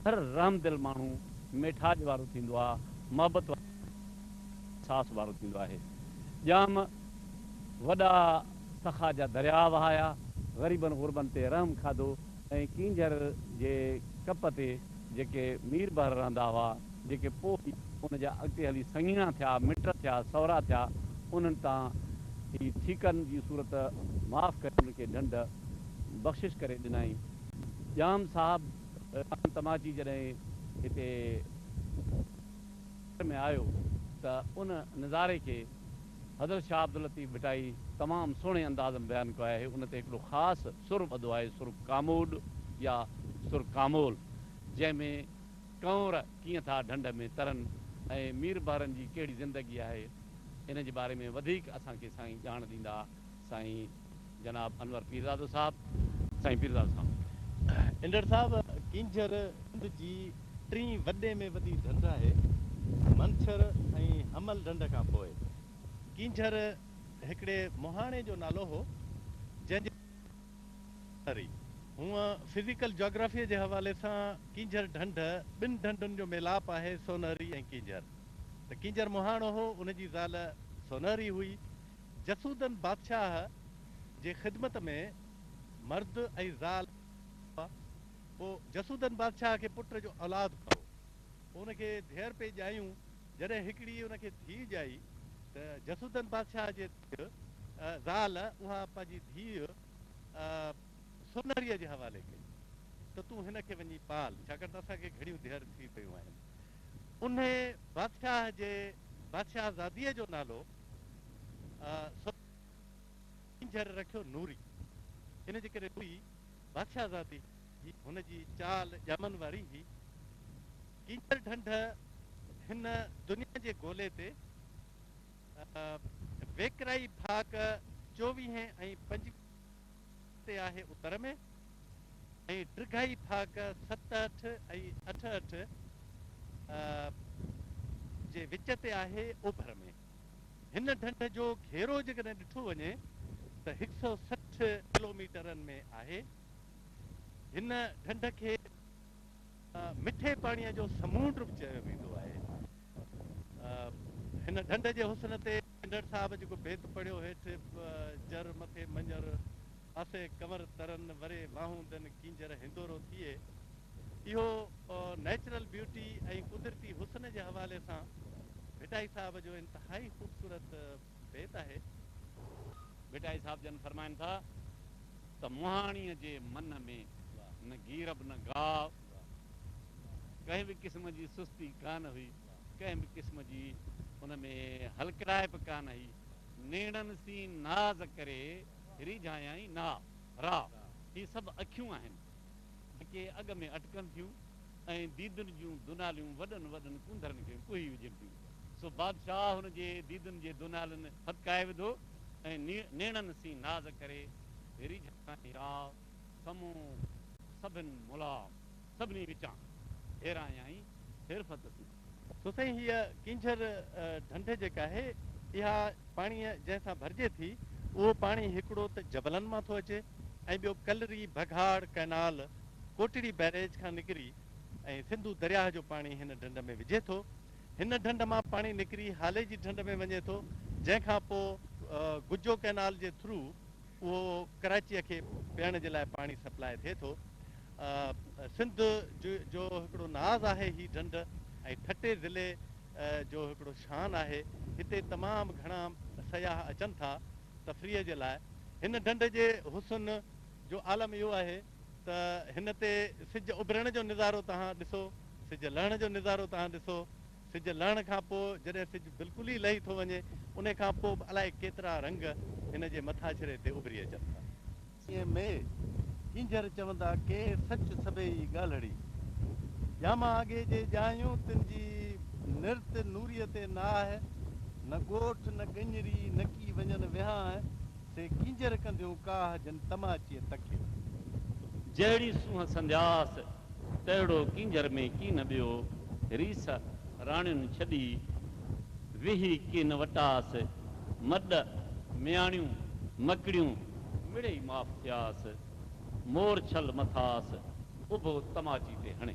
هر رحمدل ماڻهو ميٺاڄ وارو ٿيندو آ، محبت وارو احساس وارو ٿيندو آهي. ڄام وڏا سخا جا درياء وهايا، غريبن غربن تي رحم کاڌو ۽ ڪينجهر جي ڪپ تي جيڪي مير بحر رهندا هئا، جيڪي پوء ئي ان جا اڳتي هلي سڱيڻا ٿيا، مٽ ٿيا، سهرا ٿيا، انهن تان ئي ٺيڪن جي صورت معاف ڪري انهن کي ڍنڍ بخشش ڪري ڏنائين. ڄام صاحب خان تماچي جڏهن هتي شهر ۾ آيو ته ان نظاري کي حضرت شاهه عبداللطيف ڀٽائي تمام سهڻي انداز ۾ بيان ڪيو آهي. ان تي هڪڙو خاص سر ٻڌو آهي، سر ڪاموڏ يا سر ڪامول، جنهن ۾ ڪنور ڪيئن ٿا ڍنڍ ۾ ترن ۽ مير بحرن جي ڪهڙي زندگي آهي، ان جي باري ۾ وڌيڪ اسان کي سائين ڄاڻ ڏيندا. سائين! جناب انور پيرزادو صاحب سائين پيرزادو صاحب. انڊڙ صاحب ڪينجهر سنڌ جي ٽين وڏي ۾ وڏي ڍنڍ آهي منڇر ۽ حمل ڍنڍ کان پوء ڪينجهر هڪڙي مهاڻي جو نالو هو جنهن جي ڪري هونئن فزيڪل جاگرافي جي حوالي سان ڪينجهر ڍنڍ ٻن ڍنڍن جو ميلاپ آهي سونهري ۽ ڪينجهر ته ڪينجهر مهاڻو هو ان جي زال سونهري هئي جسودن بادشاهه جي خدمت ۾ مرد ۽ زال هئا. پوء جسودن بادشاهه کي پٽ جو اولاد ڪو هو. پوء ان کي ڌيئر پئي ڄايون. جڏهن هڪڙي ان کي ڌيء ڄائي ته جسودن بادشاهه جي ڌيء، زال، اها پنهنجي ڌيء سونهريء جي حوالي ڪئي ته تون هن کي وڃي پال، ڇاڪاڻ ته اسان کي گهڻيون ڌيئر ٿي ويون آهن. انهيء بادشاهه جي بادشاهزاديء جو نالو سوچي جهر رکيو نوري. ان جي ڪري هئي بادشاهزادي جي هن جي چال ڄامن واري هئي. ڪينجهر ڍنڍ هن دنيا جي گولي تي ويڪرائي ڀاڪ چوويهين ۽ پنجويهين تي آهي اتر ۾ ۽ ڊگهائي ٿاڪ ست اٺ ۽ اٺ اٺ جي وچ تي آهي اوڀر ۾ هن ڍنڍ جو گهيرو جيڪڏهن ڏٺو وڃي ته هڪ سؤ سٺ ڪلوميٽرن ۾ آهي هن ڍنڍ کي مٺي پاڻيء جو سمونڊ به چيو ويندو آهي. هن ڍنڍ جي حسن تي ڍنڍڙ صاحب جيڪو بيت پڙهيو هيٺ جر مٿي مڃر، پاسي ڪنور ترن، وري واهون دن ڪينجهر هندورو ٿئي، اهو نيچرل بيوٽي ۽ قدرتي حسن جي حوالي سان ڀٽائي صاحب جو انتهائي خوبصورت بيت آهي. ڀٽائي صاحب جن فرمائن ٿا ته مهاڻيء جي منهن ۾ نه گيرب نه گاء، ڪنهن به قسم جي سستي ڪانه هئي، ڪنهن به قسم جي ان ۾ هلڪڙائپ ڪانه هئي، نيڻن سين ناز ڪري ريجهايائين ناء، راء، هي سڀ اکيون آهن، جيڪي اڳ ۾ اٽڪن ٿيون ۽ ديدن جون دوناليون وڏن وڏن ڪونڌرن کي ڪوهي وجهن ٿيون. سو بادشاهه هن جي ديدن جي دونهالن ڦٿڪائي وڌو ۽ نيڻن سين ناز ڪري ريجهائين يا سمون سڀن ملا سڀني وچان ڦيرايائين ڦيرڦٿ سين. سو سائين هيء ڪينجهر ڍنڍ جيڪا آهي اها پاڻيء جنهن سان ڀرجي ٿي اهو پاڻي هڪڙو ته جبلن مان ٿو اچي ۽ ٻيو ڪلري بگهاڙ ڪئنال ڪوٽڙي بئريج کان نڪري ۽ سنڌو درياهه جو پاڻي هن ڍنڍ ۾ وجهي ٿو. هن ڍنڍ مان پاڻي نڪري هالي جي ڍنڍ ۾ وڃي ٿو جنهن کان پوء گجو ڪئنال جي ٿرو اهو ڪراچيء کي پيئڻ جي لاء پاڻي سپلائي ٿئي ٿو. سنڌ جو هڪڙو ناز آهي هي ڍنڍ ۽ ٺٽي ضلعي جو هڪڙو شان آهي. هتي تمام گهڻا سياح اچن ٿا تفريح جي لاء. هن ڍنڍ جي حسن جو عالم اهو آهي. ته هن تي سج اڀرڻ جو نظارو توهان ڏسو، سج لهڻ جو نظارو توهان ڏسو، سج لهڻ کان پوء جڏهن سج بلڪل ئي لهي ٿو وڃي، انهي کان پوء به الائي ڪيترا رنگ هن جي مٿاڇري تي اڀري اچن ٿا. سيء مئي ڪينجهر چوندا ڪي سچ سڀيئي ڳالهڙي. ڄاما آگي جي ڄايون تن جي نرت نوريء تي ناهه، نه ڳوٺ نه ڳڃري نڪي وڃن وهانء، سي ڪينجهر ڪنديون ڪاهه جن تماچيء تکيو. جهڙي سونهن سندياس، تهڙو ڪينجهر ۾ ڪين ٻيو. ريس راڻين ڇڏي، ويهي ڪين وٽاس. مڏ مياڻيون مڪڙيون، مڙئي معاف ٿياس. مورڇل مٿاس، اڀو تماچي تي هڻي.